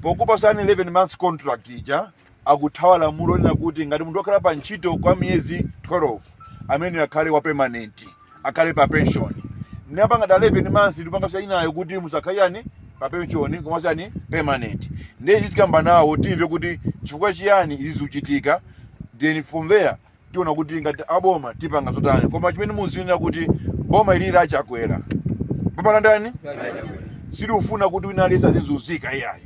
pokupasani 11 months contract ija akuthawa lamulo lonena kuti ngati munthu wakhala pa ntchito kwa miyezi 12 ameneyo akhale wa permanent akhale pa pension nde apanga dala 11 months ndikupangasa inuyo kuti musakhale yani pa pension komanso yani permanent ndiye tikamba nawo timve kuti chifukwa chiyani izi zikuchitika then from there tiona kuti ngati aboma tipanga zotani koma chimene muziona kuti boma ili la chakwera boma la ndani silikufuna kuti wina aliyense azizunzika iyayi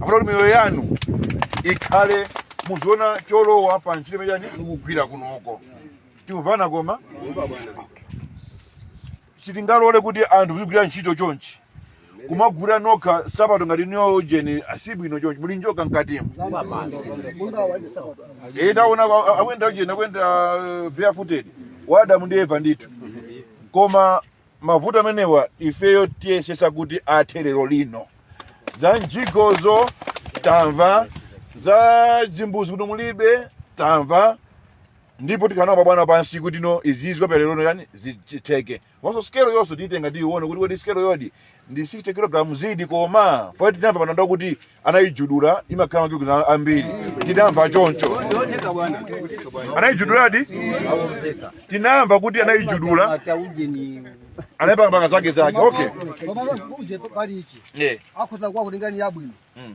afuna kuti miyoyo yanu ikhale muziona cholowa pa ntchito imene ujeni mukugwira kunoko tikumvana koma sitingalole kuti anthu muzigwira ntchito chonchi kumagula nokha nsapato ngati inuyo ujeni sibwino chonchi muli njoka mkatimu Eh, taona a- akuyenda ujeni akuyenda eh, barefooted wa Adamu ndi eva ndithu koma mavuto amenewa ifeyo tiyesesa kuti athe lero lino za mjigozo tamva za zimbuzi kuti mulibe tamva ndipo tikhala nawo mabwana pansi kuti no izizi pa lerolino ujeni zichitike komanso scale iyonso tiyitenga tiyione kuti kodi scale iyodi ndi 60 kg zidi koma tinamva panja kuti anayijudula imakhala makilo ambiri tinamva choncho anayijuduladi tinamva kuti anayijudula anayipanga panga zake zake okay Koma uje pali ichi. yeah Akhoza kwa kulingani yabwino. Mm.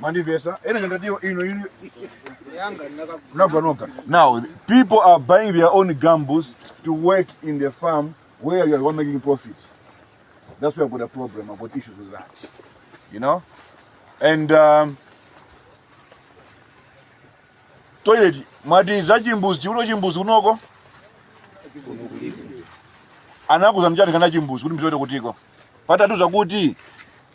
Mandivesa, ena ngandatio ino ino Naganoka. Now, people are buying their own gambles to work in the farm where you are making profit. That's where I've got a problem. I've got issues with that. You know? And um, toilet, mwati za chimbuzi, chiuno chimbuzi kunoko? Anakuza mchati kana chimbuzi kuti mtoto kutiko. Patatu zakuti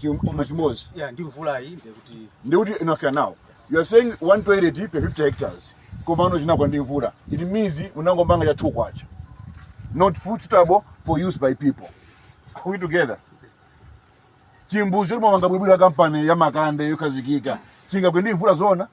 Chim- chimwe chimodzi ya ndi mvulayi ndiye kuti ndikuti enough now you are saying 1 toilet per 50 hectares komano chinagwa ndi mvula it means unangomanga cha 2 kwacha not fit suitable for use by people are we together chimbuzi chomanga bwinobwino kampani ya makande yokhazikika chingagwe ndi mvula zona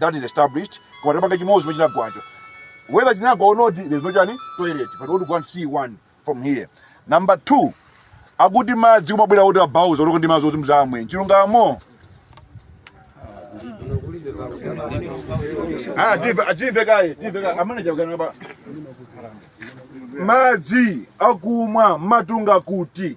that is established koma tapanga chimodzi chomwe chinagwacho whether chinagwa or not there's no chani toilet but what you can see one from here number two akuti madzi kumabwera kuti abauza kuti ndi madzi oti muzimwa chilungamo Ah, timve- ah, timve kaye timve kaye amene akukana pa madzi akumwa mumatunga kuti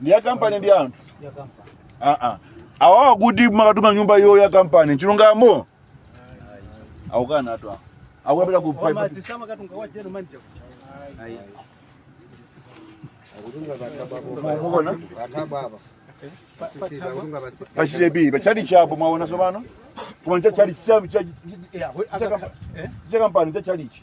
ndi ya kampani ndi anthu aa awawa kuti amakatunga nyumba iyo ya kampani chilungamo akukana anthu awa akupita ku pipe Wamadzi samakatunga wa general manager. Mukuona? pa CCAP pa tchalitchi apo mwaona sopano koma cha tchalitchi cha- Eh, awe- cha aka- kampani- eh? cha kampani cha tchalitchi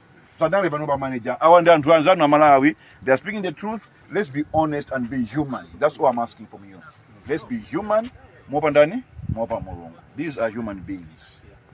padale pano pa manager awa ndi anthu anzanu a malawi they are speaking the truth let's be honest and be human that's all i'm asking from you let's be human mopandani mopa mulungu these are human beings